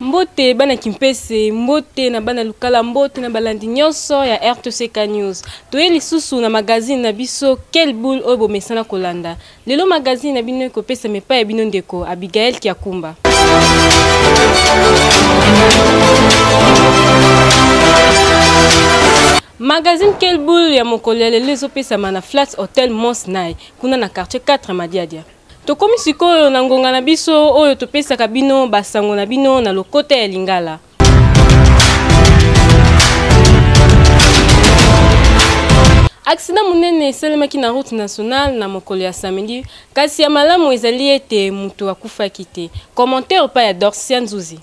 mbote bana kimpese mbote na bana lukala mbote na balandi nyonso ya rtck news toye lisusu na magazine na biso quel boule oyo bomesana kolanda Lelo magazine na bino ekopesama epai ya bino ndeko Abigail Kiakumba. Magazine Quel Boule ya mokolo ya lelo ezopesama na Flats Hotel Mons Nai kuna na quartier 4 Madiadia. Tokomi sikoyo na ngonga na biso oyo topesaka bino basango na bino na lokota ya Lingala. aksida monene esalemaki na route nationale na mokolo ya samedi kasi ya malamu ezali ete moto akufaki te commentaire epai ya dorsia nzuzi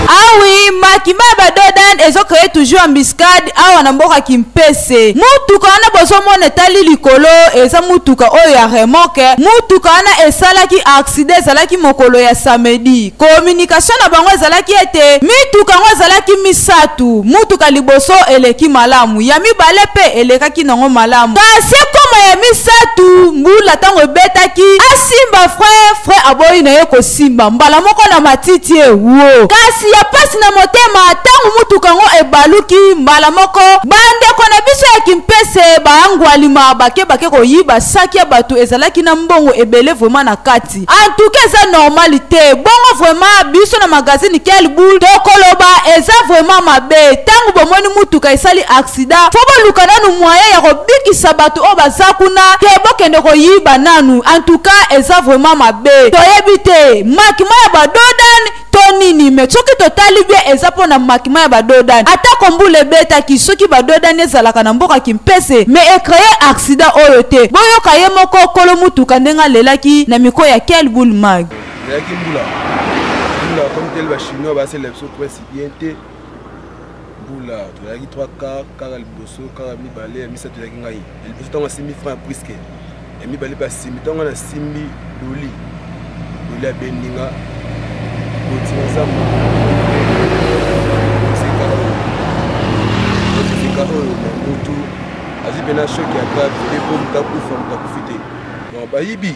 awi ah makima badodan ezokreye toujours embuscade awa na mboka kimpesa se mutuka wana bozomona etali likolo eza mutuka oyo ya remoke mutuka wana esalaki aksida ezalaki mokolo ya samedi komunikatio na bango ezalaki ete mituka yango ezalaki misato mutuka liboso eleki malamu ya mibale mpe elekaki nango malamu kasi ekoma ya misato mbula ntango ebetaki asimba fre fre aboyi na ye esimba mbala moko na matiti e wo kasi ya pasi na motema ntango motuka yango ebaluki mbala moko bandeko na biso ya kimpese baangwalima bake bake koyiba saki ya bato ezalaki na mbongo ebele vraimen na kati antuka eza normali te bongo vraimen biso na magazine kelbul tokoloba eza vraimen mabe ntango bomoni motuka esali sida fo boluka nanu moyen ya kobikisa batu oyo baza kuna ke bokende koyiba nanu antuka eza vraiment mabe toyebi te makima ya badodan to nini me soki totali bie eza mpo na makima ya badodani atako mbula ebetaki soki badodani ezalaka na mboka kimpese me ekreye aksida oyo te boyoka ye moko kolo motuka ndenge alelaki na mikro ya kel boule mag mbula tozalaki 3 kar kara liboso kara mibale ya misato ezalaki ngai ya liboso ntango asimbi franc ya priske ya mibale mpe asimbi ntango ngai nasimbi loli loli abendi nga kotinga zamba mosika oyo mosika oyo na mutu azwi mpena shoki ya grave mpe mpo moto akufa moto akufi te bayibi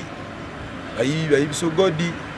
bayibi bayibi so godi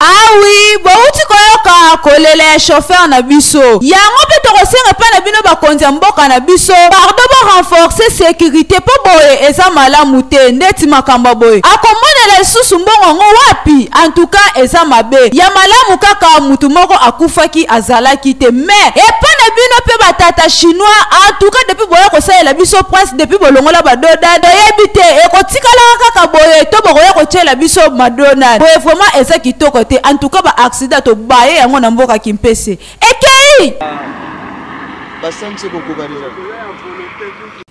awi ah bowuti koyoka kolela ya chauffeur na biso yango mpe tokosenga mpe na bino bakonzi ya mboka na biso pardo borenforce sekirite mpo boye eza malamu te ndeti makambo boye akomonela lisusu mbongo yango wapi antuka eza mabe ya malamu kaka motu moko akufaki azalaki te me epa na bino mpe batata chinois antuka depuis boya kosalela biso prince depuis bolongola badoda toyebi te tikalaka kaka boye to bokoya kotyela biso madona boye vraiment eza kitoko te en tout cas ba accident tobaye yango na mboka kimpese ekei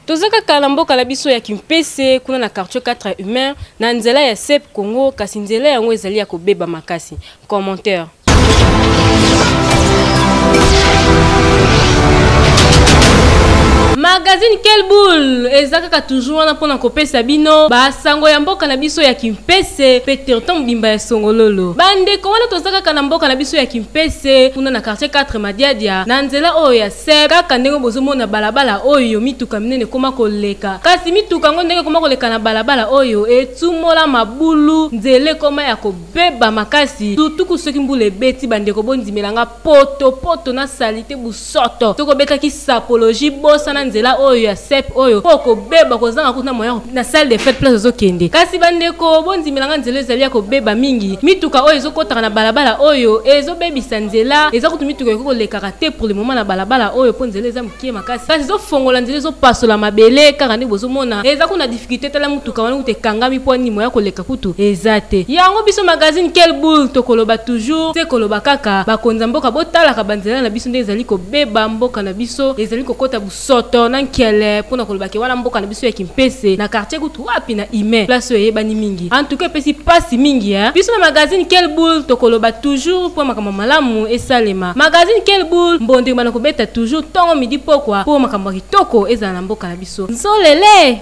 toza kaka na mboka na biso ya kimpese kuna na quartier 4 humain na nzela ya sep congo kasi nzela yango ezali ya kobeba makasi commentaire magazine quel boule eza kaka toujours wana mpona kopesa bino basango ya mboka na biso ya kimpese mpe territoire mobimba ya songololo bandeko wana toza kaka na mboka na biso ya kimpese kuna na quartier 4 madiadia na nzela oyo ya sep kaka ndenge bozomona balabala oyo mituka minene ekoma koleka kasi mituka yango ndenge ekoma koleka na balabala oyo etumola mabulu nzela ekoma ya ko Beba makasi tutuku soki mbula ebeti bandeko bondimela nga poto poto na salite busoto soki obetaki sapologie bosana nzela oyo ya sep oyo po okobeba kozanga kutu na moyen na salle de fete place ozokende kasi bandeko bondimela nga nzela ezali ya kobeba mingi mituka oyo ezokotaka na balabala oyo ezobebisa nzela eza kutu mituka ekoki kolekaka te pour le moment na balabala oyo po nzela eza kie makasi kasi ezofongola nzela ezopasola mabele kaka nde bozomona eza kuna difficulté tala motuka wana kutu ekangami mpo nimo ya koleka kutu eza te yango biso magazine quel boule tokoloba toujours te koloba kaka bakonzi ya mboka botalaka banzela na biso nde ezali kobeba mboka na biso ezali kokota busoto na nkele mpo na kolobake wana mboka na biso ya kimpese na quartier Wapi na humain place oyo eyebani mingi en tout cas epesi pasi mingi hein biso na magazine quel boule tokoloba toujours po makambo malamu esalema magazine quel boule mbondo ebanda kobeta toujours tongo midi pokwa po makambo kitoko ezala na mboka na biso nzolele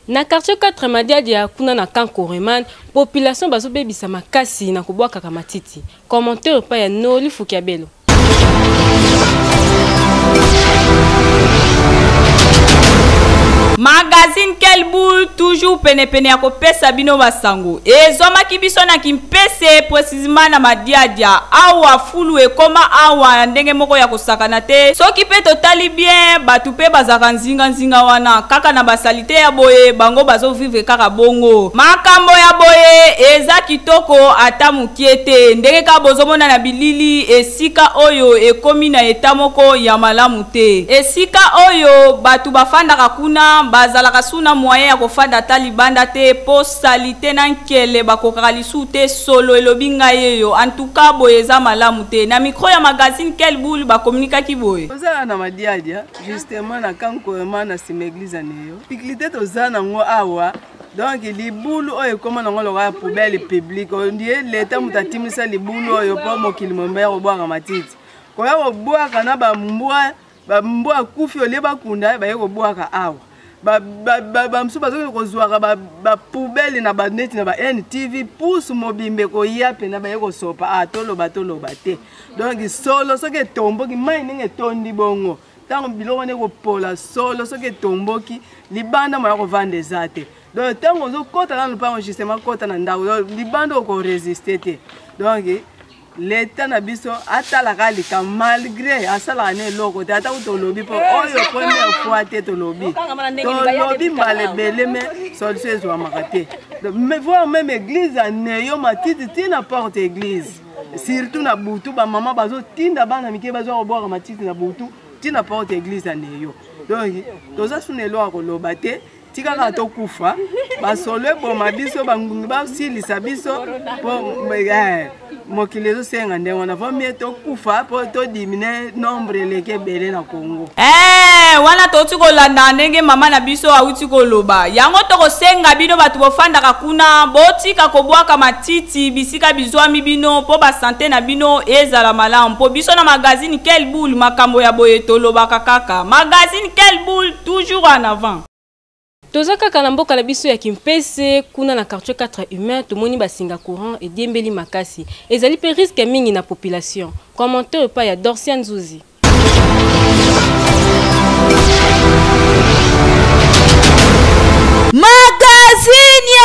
Na quartier 4 Madiadia kuna na camp Coreman, population bazobebisa makasi na kobwakaka matiti. Commentaire epai ya Noli Fukiabelo. magazine quel boule toujours penepene ya kopesa bino basango ezwamaki biso na kimpese precisement na madiadia awa fulu ekoma awa na ndenge moko ya kosakana te soki mpe totali bien bato mpe bazalaka nzinganzinga wana kaka na basalite ya boye bango bazovivre kaka bongo makambo ya boye eza kitoko ata Kie te, ndenge kaka bozomona na bilili, esika oyo ekomi na etat moko ya malamu te. Esika oyo batu bafandaka kuna, bazalaka sous na moyen ya kofanda ata libanda te po salite na nkele bakokaka lisuu te solo elobi ngai eyo en tout cas boye eza malamu te na micro ya magazine quelle boule ba communikaki boye. Oza awa na madiadia justement na camp Koema na sima eglise ya Neo. Difficulite toza nango awa donc libulu oyo ekoma nango lokola poubelle publique oyo ndie leta moto atimisa libulu oyo mpo mokili mombe ya kobwaka matiti koya kobwaka na bambwa bambwa akufi olie bakunda baye kobwaka awa bamosusu bazokende kozwaka bapoubele na baneti na ba ntv pusu mobimba ekoya mpena baye kosopa a ah, toloba toloba te donk solo soki etomboki mai ndenge etondi bongo ntango biloko wana ekopola solo soki etomboki libanda moya kovanda eza te donc ntango ozokɔta na lopango justement kɔta na ndako donc libanda okoresiste te donc leta na biso atalaka lika malgré asalaka na eloko te ata kuta olobi mpo eh, oyo première fois te tolobi tolobi mbala ebele me solution ezwamaka te voir même église ya neyo matiti ti na porte église surtout na butu bamama bazotinda bana mike bazwa kobwaka matiti na butu ntina porte ya eglize ya neyo donc toza suna elo ya koloba te tika kaka tokufa basolo eboma biso bangungi basilisa biso po eh, mokili ezosenga ndenge wana vomie tokufa mpo todimine nombre eleki ebele na Congo. Eh, wana touti kolanda ndenge mama na biso auti koloba yango tokosenga bino bato bofandaka kuna botika kobwaka matiti bisika bizwami bino mpo basante na bino ezala malamu mpo biso na magazine quel boule makambo ya boye tolobaka kaka magazine quel boule toujours en avant toza kaka na mboka na biso ya kimpese kuna na quartier 4 humain tomoni basinga courant ediembeli makasi ezali mpe riske mingi na population commentaire epai ya dorcia nzuzi magazini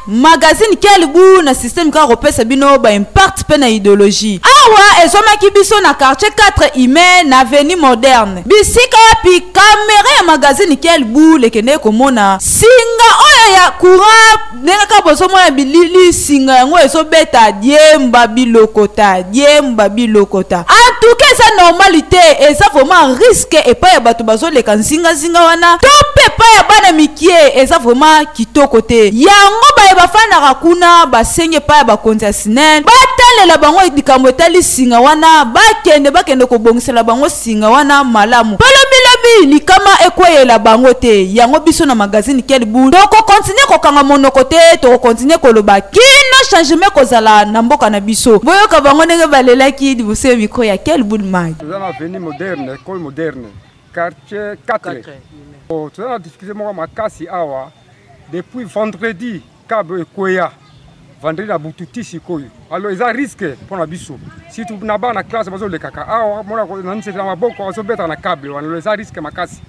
Magazine quel gout na système kaka kopesa bino ba impact pe na ideologie. Awa ezomaki biso na quartier 4 email na avenue moderne. Bisika wapi camera ya magazine quel gout lekendeki komona singa oyo ya courant ndenge kaka bozomona bilili singa yango ezobeta diemba bilokota diemba bilokota. En tout cas eza normal te eza vraiment risque epai ya bato bazoleka nzinga nzinga. singa wana to mpe epai ya bana mikie eza vraimen kitoko te yango baye bafandaka kuna basengi epai ya bakonzi ya sinen batalela bango likambo etali singa wana bakende bakende kobongisela bango singa wana malamu balobilobi likama ekweyela bango te yango biso na magazine kelbul tokokontinue kokanga monoko te tokokontinue koloba kino changement ekozala na mboka na biso boyoka bango ndenge balelaki liboso ya mikro ya kelbul mag toza na veni moderne ekole moderne quartier 4 oh, toza na difficulté moko makasi awa depuis vendredi cab ekweya vendredi na butu ti sikoyo alors eza risque mpo na biso surtout na bana classe bazolekaka awa mona na nzete na maboko azobeta na cable wana lo eza risque makasi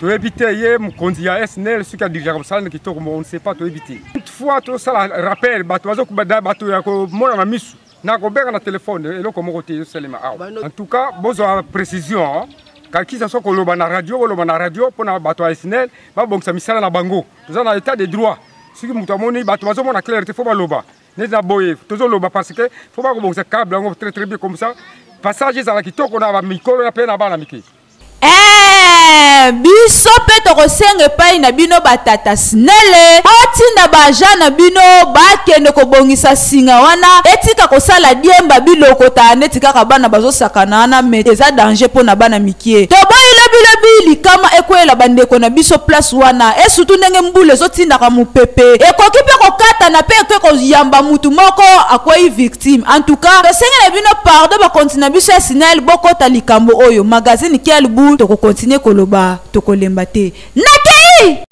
toyebi te ye mokonzi ya snl soki adirijaka mosala na kitoko mo on ne sait pas toyebi te une fois tosala rappel bato bazokuba bato ya komona na misu nakobenga na telefone eloko moko te ezosalema awa en tout cas bozwa précision kakisa so koloba na radio boloba na radio mpo na bato ya snel babongisa misala na bango toza na état de droit soki moto amoni bato bazomona claire te fo baloba neti na boye tozoloba parce que fo bakobongisa cable yango très très bien comme ça passage ezala kitoko na bamikolo ya mpe na bana mike Eeh biso pe tokosenga epai na bino ba tata snele botinda ba agent na bino bakende kobongisa singa wana etika kosala diemba bilokota neti kaka bana bazosakana wana me eza danger mpo na bana mikie toboyi lobilobi likama ekweyela bandeko na biso place wana esutu ndenge mbula ezotindaka mopepe ekoki mpe kokatana mpe eke koyamba mutu moko akwei victime Team en tout cas tosengi na bino pardon ba konti na biso ya sinel bokota likambo oyo magazine kial bu toko continue koloba tokolemba te nakei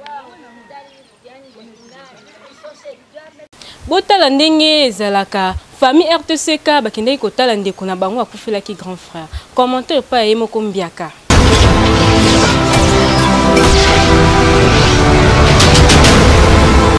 botala ndenge ezalaka famille rtck bakendaki kotala ndeko na bango akufelaki grand frère commentaire epai ya ye moko mbiaka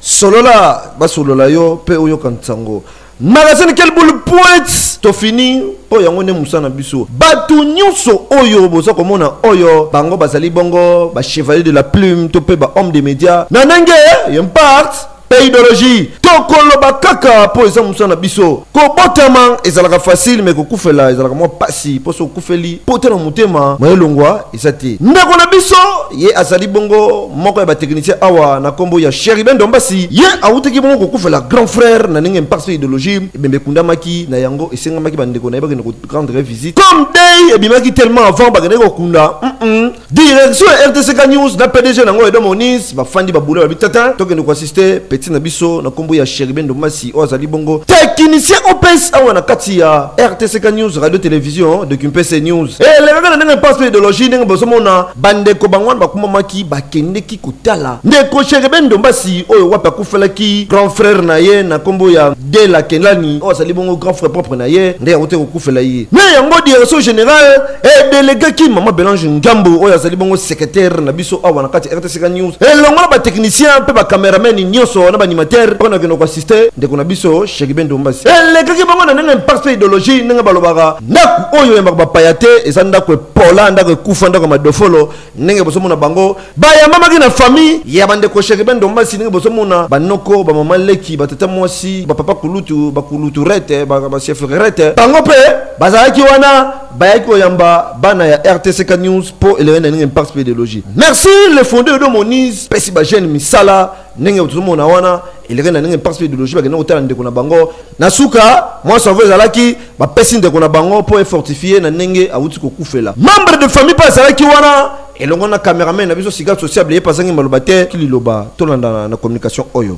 solola basolola yo mpe oyoka nsango magazine quel boule pointe to fini oyo yango nde mosala na biso bato nyonso oyo boza komona oyo bango bazali bongo ba chevalier de la plume to mpe ba homme de média na ndenge ye mpart mpe idéologie tokoloba kaka mpo eza mosala na biso kobotama ezalaka facile me kokufela ezalaka mwa mpasi mpo so okufeli mpo te na motema mayelongwa eza te ndeko na biso ye azali bongo moko ya batechnicien awa na nkombo ya cheriben dombasi ye awutaki bongo kokufela grand frère na ndenge impakso idéologie ebembe ekundamaki na yango esengamaki bandeko na ye bakende korendre visite comme dei ebimaki tellement avant bakendaki kokunda mm -mm. direction ya rtck news na pdg na yango edo monis bafandi babula babi tata tokende kwasi Juste petit na biso na kombo ya Cheriben Ndomasi oyo azali bongo technicien OPS awa na kati ya RTCK News radio télévision de Kimpese News. Eh lekaka na ndenge mpasi mpe ideologie ndenge bozomona bandeko bango wana bakumamaki bakendeki kotala ndeko Cheriben Ndombasi oyo wapi akufelaki grand frère na ye na kombo ya De la Kenlani oyo azali bongo grand frère propre na ye nde yango te kokufela ye. Na yango direction générale edelegaki mama Belange Ngambo oyo azali bongo secrétaire na biso awa na kati ya RTCK sika news elongo na batechnicien mpe bacameraman nyonso na baanimateur oyo nakende koasiste ndeko na biso shekibe ndombasi elekaki bango na ndenge imparte mpe ideologie ndenge balobaka ndako oyo oyambaka bapaya te eza ndako epola ndako ekufa ndako ya madofolo ndenge bozomona bango bayambamaki na famille ya bandeko shekibe ndombasi ndenge bozomona banoko bamama leki batata mwasi bapapa kulutu bakulutu rete bachef rete bango mpe bazalaki wana bayaki koyamba bana ya rtck news mpo elenge na ndenge impact mpe ideologie merci le fonde odo monise pesi bajeune misala ndenge tozomona wana elenge na ndenge impact mpe ideologie bakenda kotala ndeko na bango na suka mwa cerveau ezalaki bapesi ndeko na bango mpo efortifie na ndenge awuti kokufela membre de famille mpe azalaki wana elongo na cameraman na biso siga sociable ye mpe azangi maloba te kililoba tolandana na communication oyo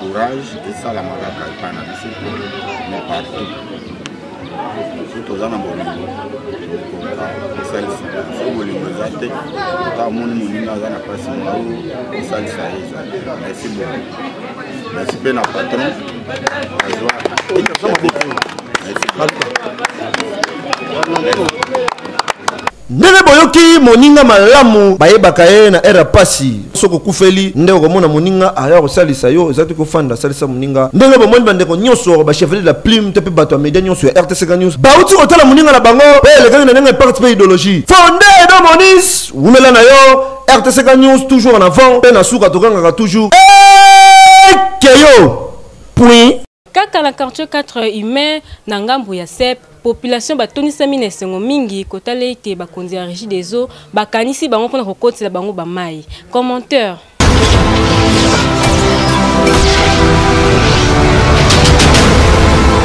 courage esalamaka kaka epai na biso te mais partout soki toza na bolingo tokoka kosalisa so bolingo eza te ata amoni moninga aza na mpasi mao kosalisa ye eza te merci beaucoup merci mpe na patron azwa merci Ndenge boyoki moninga malamu bayebaka ye na heure ya pasi. Soki okufeli nde okomona moninga aya kosalisa yo, eza te kofanda salisa moninga. Ndenge bomoni bandeko nionso ba chevaliers de la plume to pe batu ya media nionso ya RTCK news bawuti kotala moninga na bango oyo elekaki na ndenge ya parti pe ideologie. Fonde Edo Monis, wumela na yo, RTCK news toujours en avant pe na suka togangaka toujours Ekeyo! Puin! Kaka na quartier 4 humain na ngambo ya CEP, population batondisami na esengo mingi kotala ete bakonzi ya Régie des eaux bakanisi bango mpona kokotela bango bamai. Commenteur.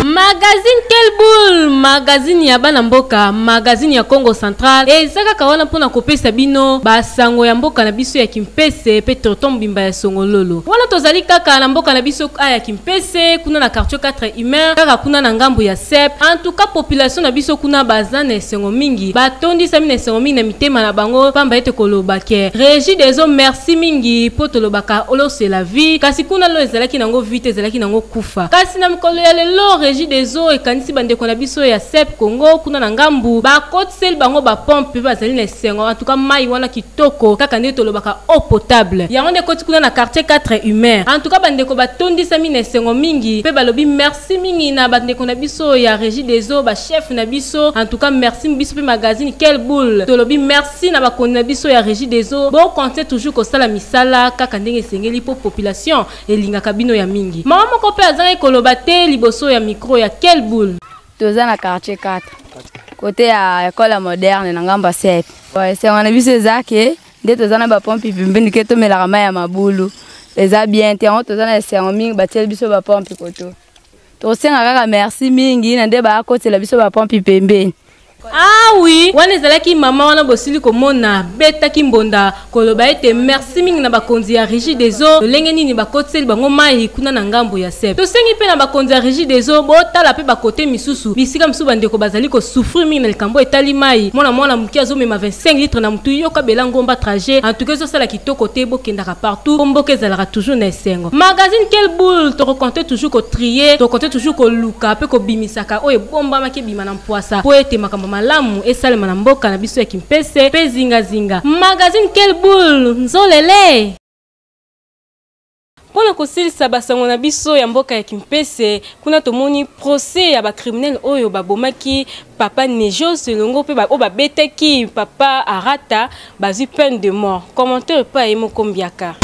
magazine quel boule magazine ya bana mboka magazine ya congo central eza kaka wana mpo na kopesa bino basango ya mboka na biso ya kimpese mpe tonton mobimba ya songololo wana tozali kaka na mboka na biso aya PC kuna na quartier 4 humain kaka kuna na ngambo ya sep en tout cas population na biso kuna baza na esengo mingi batondisami na esengo mingi na mitema na bango pamba ete koloba ke régie des eaux merci mingi mpo tolobaka olo c'est la vie kasi kuna lo ezalaki nango vie te ezalaki nango kufa kasi na mikolo ya lelo régie des eaux ekanisi bandeko na biso ya sep congo kuna na ngambu bakotiseli bango bapompe mpe bazali na esengo en tout cas mai wana Toko kaka ndenge tolobaka eau potable yango nde ekoti kuna na quartier quatre humeur en tout cas ba ndeko ba tondisami na esengo mingi pe balobi merci mingi na ba ndeko na biso ya regie des eaux ba chef na biso en tout cas merci biso pe magazine quelle boule tolobi merci na bakonzi na biso ya regie des eaux bo continuer toujours kosala misala kaka ndenge esengeli po population elingaka bino ya mingi maman moko pe azangaki koloba te liboso ya micro ya quelle boule. toza na quartier 4 kote ya ekole moderne na ngambo ya sep esengo na biso eza ke nde toza na bapompi pembeni ke tomelaka mai ya mabulu eza bien te yango toza na esengo mingi batieli biso bapompi koto tosenga kaka merci mingi na nde bakotela biso bapompi pembeni awi ah wana ezalaki mama wana bosili komona betaki mbonda koloba ete merci mingi na bakonzi ya rigi des eaux lolenge nini bakotiseli bango mai kuna na ngambo ya sep tosengi mpe na bakonzi ya rigi des eaux botala mpe bakote misusu bisika misusu bandeko bazali kosouffrir mingi na likambo etali mai mwana mwana moke azomema 25 litre na motu yoka bela ngomba trajet en tout cas ezosala kitoko te bokendaka partout mpo mboka ezalaka toujours na esengo magazine quel boule tokokonte toujours kotrier tokokonte toujours koluka mpe kobimisaka oyo ebombamaki ebima na Pwasa mpo ete makambo malamu esalema na mboka na biso ya Kimpese mpe zinga zinga. Magazine Quelle boule! Nzolele! Mpo na kosilisa basango na biso ya mboka ya Kimpese, kuna tomoni procès ya ba criminels oyo babomaki papa Nejos elongo mpe oyo babetaki papa Arata Bazi peine de mort. Commentaire pas et moko mbiaka.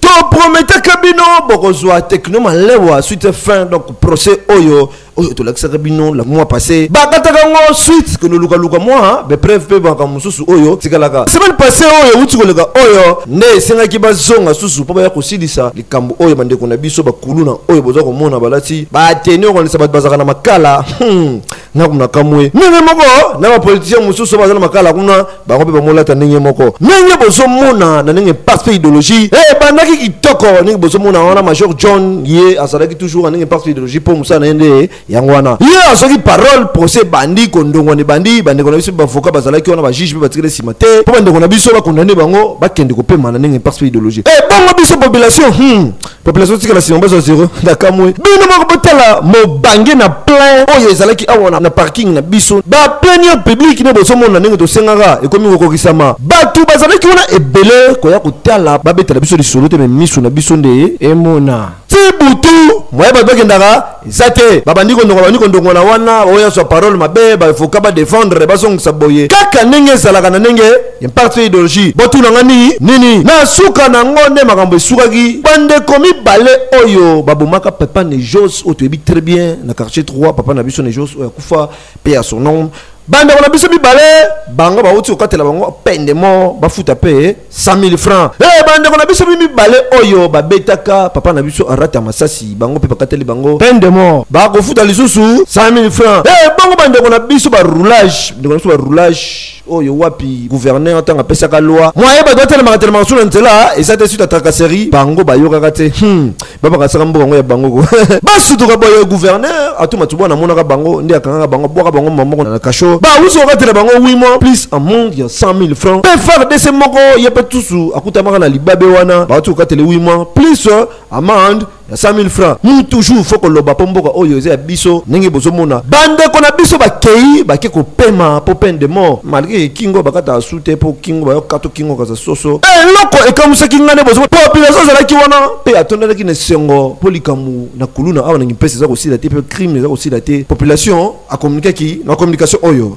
toprometaka bino bokozwa tekno malewa suite fin donc procès oyo oyo tolakisaka bino la mois passé bakataka yango suite ke nolukaluka mwa bepreuve mpe makambo mosusu oyo tikalaka semaine passé oyo euti koleka oyo nde esengaki bazonga susu mpo baya kosilisa kambo oyo bandeko na biso bakuluna oyo boza komona balati bateni okanisa bato bazalaka na makala hmm, naku na kamwe ndenge moko na bapolitisien mosusu baza na makala kuna bango mpe bamolata ndenge moko ndenge bozomona na ndenge mpasi mpe idéologie eh, ebandaki kitoko ndenge bozomona wana major john ye azalaki toujours na ndenge mpasi mpe idéologie mpo mosala na ye nde yango wana ye azoki parole procès ebandi kondongwana ebandi bandeko na biso bavoka bazalaki wana bajuge mpe batikali nsima te mpo bandeko na biso bakondane bango bakende kopema na ndenge parce mpe idéologie ebongo eh, biso population hmm. population tikala nsima bazwa zero nakamwe bino moko botala mobange na plein oyo ezalaki awa na parking na biso baplenier public nde bozomona ndenge tosengaka ekomi kokokisama bato bazalaki wana ebele koya kotala babetela biso lisolo te me miso na biso nde emona ti butu moye bato bakendaka eza te babandi kondonga babandi kondongola wana oyo azwa parole mabe baefoka badefendre bazongisa boye kaka ndenge ezalaka na ndenge ya parti ya ideologie botuna nga nini nini na suka na yango nde makambo esukaki bandeko mibale oyo babomaka papa nejos oyo toyebi très bien na quartier 3 papa na biso nejos oyo akufa mpe ya son nom bandeko na biso mibale bango bauti kokatela bango pende mo bafuta mpe 100000 francs hey, eh, bandeko na biso mibale oyo babetaka papa na biso arata masasi bango mpe bakateli bango peine de mort bakofuta lisusu 100000 francs hey, eh, bango bandeko na biso baroulage bandeko na biso baroulage oyo wapi gouverneur ntango apesaka loi mwaye bato batelemakatelemaka so na nzela eza te suite ya tracasserie bango bayokaka te hmm. babakasaka mboka yango ya bango ko basutuka boye gouverneur atuma tubwa namonaka bango nde akangaka bango abwaka bango mamoko na kasho bawusu kokatela bango wi mwa plus amende ya 100 000 francs mpe fardc moko ye mpe tusu akutamaka na libabe wana bawuti kokatele wi mwa plus euh, amende ya 100 000 francs mu toujours fo koloba mpo mboka oyo eza ya biso ndenge bozomona bandeko na biso bakei bake kopema mpo peine de mort malgre kingo bakata asu te mpo kingo bayokato kingo kaza soso eh, eloko ekamusaki ngai nde bozo population azalaki wana mpe atondaki na esengo mpo likambo na kuluna awa na kimpese eza kosila te mpe crime eza kosila te population akomunikaki na communication oyo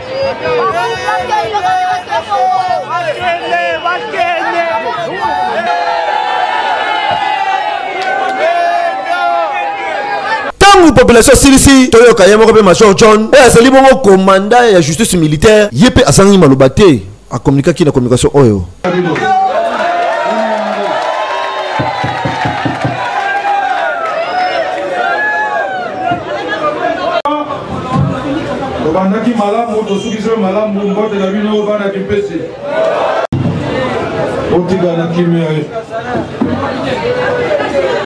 ntango population asilisi toyoka ye moko mpe major john oyo azali bongo komanda ya justice militaire ye mpe azangi maloba te A communiquer qui na communication oyo. obandaki malamu tosukisi yo malamu mbote na bino bana kipesi otika na kimia ye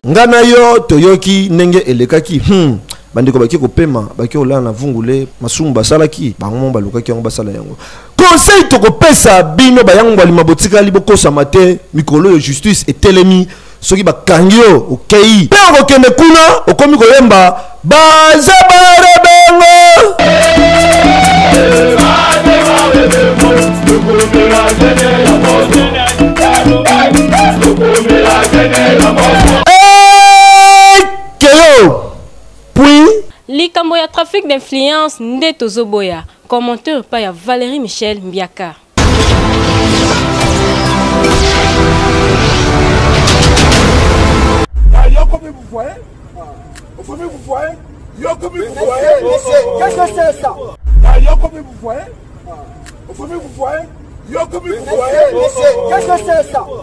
nga na yo toyoki ndenge elekaki hmm. bandeko baki kopema baki kolala na vungule masumu basalaki bango mo balukaki yango basala yango conseil tokopesa bino bayangwalima botikali bokosama te mikolo oyo justice etelemi soki bakangi yo okei mpe okokende kuna okomi koyemba baza barebengo likambo ya trafic d'influence nde tozoboya Commentaire epai ya Valerie Michel Mbiaka.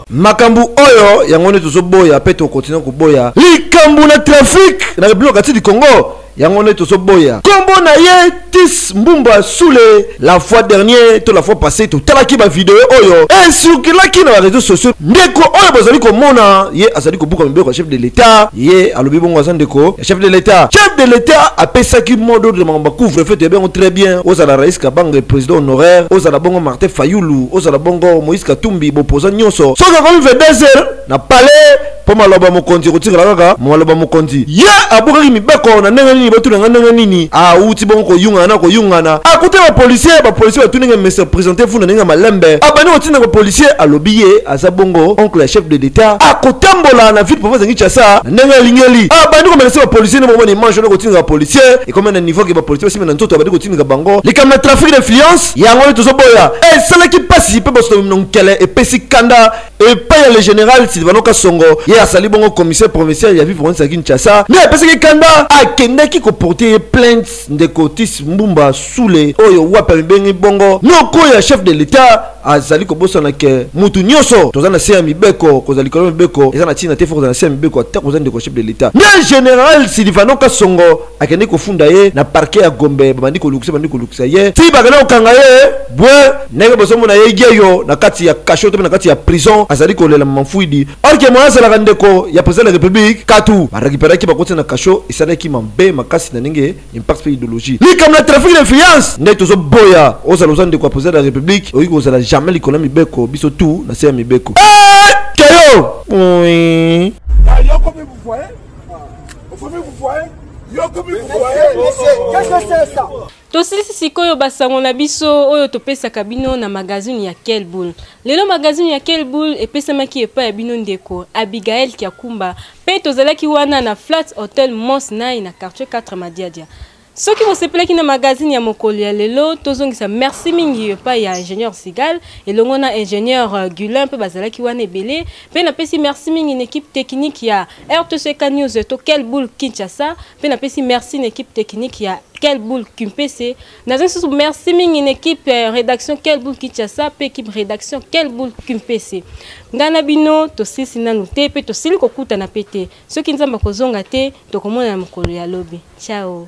makambo oyo yango nde tozoboya mpe tokontinue koboya likambo na trafik na republika kati du congo yango nde tozoboya nkombo na ye tis mbumba sule la fois dernier to la fois passé totalaki bavideo oyo esirkulaki na bareseau sociaux ndeko oyo bozali komona ye azali kobuka mibeko ya chef de l'etat ye alobi bongo aza ndeko chef de l'état chef de l'état apesaki mot d'ordre na makambo ya couvre feu toyebi yango très bien ozala rais kabanga président honoraire ozala bongo martin fayulu ozala bongo moïse katumbi bopoza nyonso soki akomi 22 heures na palais mpo maloba ya mokonzi ekotikala kaka maloba ya mokonzi ye abukaki mibeko na ndenge nini botuna ngai ndenge nini awuti bongo koyungana na koyungana akuta bapolisier bapolisier batuni ngai mese présente vous na ndenge ya malembe abandi kotinda bapolisier alobi ye aza bongo oncle ya chef de l'etat akotambola na ville province ya kinshasa na ndenge alingeli abandi komenase bapolisier nde bomoni image wana kotindika bapolisier ekomi na niveau ke bapolisier basimi na nzoto abandi kotindika bango likambo na trafic d'influence yango nde tozoboya esalaki mpasi mpe basotomi na nkele epesi kanda epai ya le général silvano kasongo ye asali bongo commissaire provincial ya ville province ya kinshasa nde apesaki kanda akendaki koporte ye plainte ndeko tis mbumba sule oyo wapi amibengi bongo noko ya chef de l'etat azali kobosana ke mutu nyonso toza na se ya mibeko kozala likolo ya mibeko eza na ntina te fo kozala na se ya mibeko ata koza ndeko chef de l'etat nde general silivano kasongo akende kofunda ye na parquet ya gombe babandi kolukisa bandi kolukisa ye ti bakenda kokanga ye bwe ndenge bozomona ye yeyo na kati ya kasho to mpe na kati ya prison azali kolela mamfuidi Or que moyen azalaka ndeko ya president de la republique katu ba recuperaki bakoti na cachot esalaki mambe makasi na ndenge impact pe idologie likambo na trafic na influence nde tozo boya ozala oza ndeko ya president de la republique okoki kozala jamais likolo ya mibeko biso tout na se ya mibeko keyo oui. tosilisi sikoyo basango na biso oyo topesaka bino na magazini ya kelbul lelo magazini ya kelbul epesamaki epai ya bino ndeko abigael kiakumba mpe tozalaki wana na flat hotel mons nai na quartier 4 madiadia soki bosepelaki na magazini ya mokolo ya lelo tozongisa merci mingi epai ya ingénieur sigal elongo na ingénieur euh, gulin mpe bazalaki wana ebele mpe napesi merci mingi na ekipe technique ya rtck news to kelbul kinshasa mpe napesi merci na équipe technique ya kelbul kimpese naza lisusu merci mingi na équipe euh, rédaction kelbul kinshasa mpe équipe rédaction kelbul kimpese ngai na bino tosilisi nanu te mpe tosili kokutana mpe te soki nzambe akozonga te tokomonana mokolo ya lobi ciao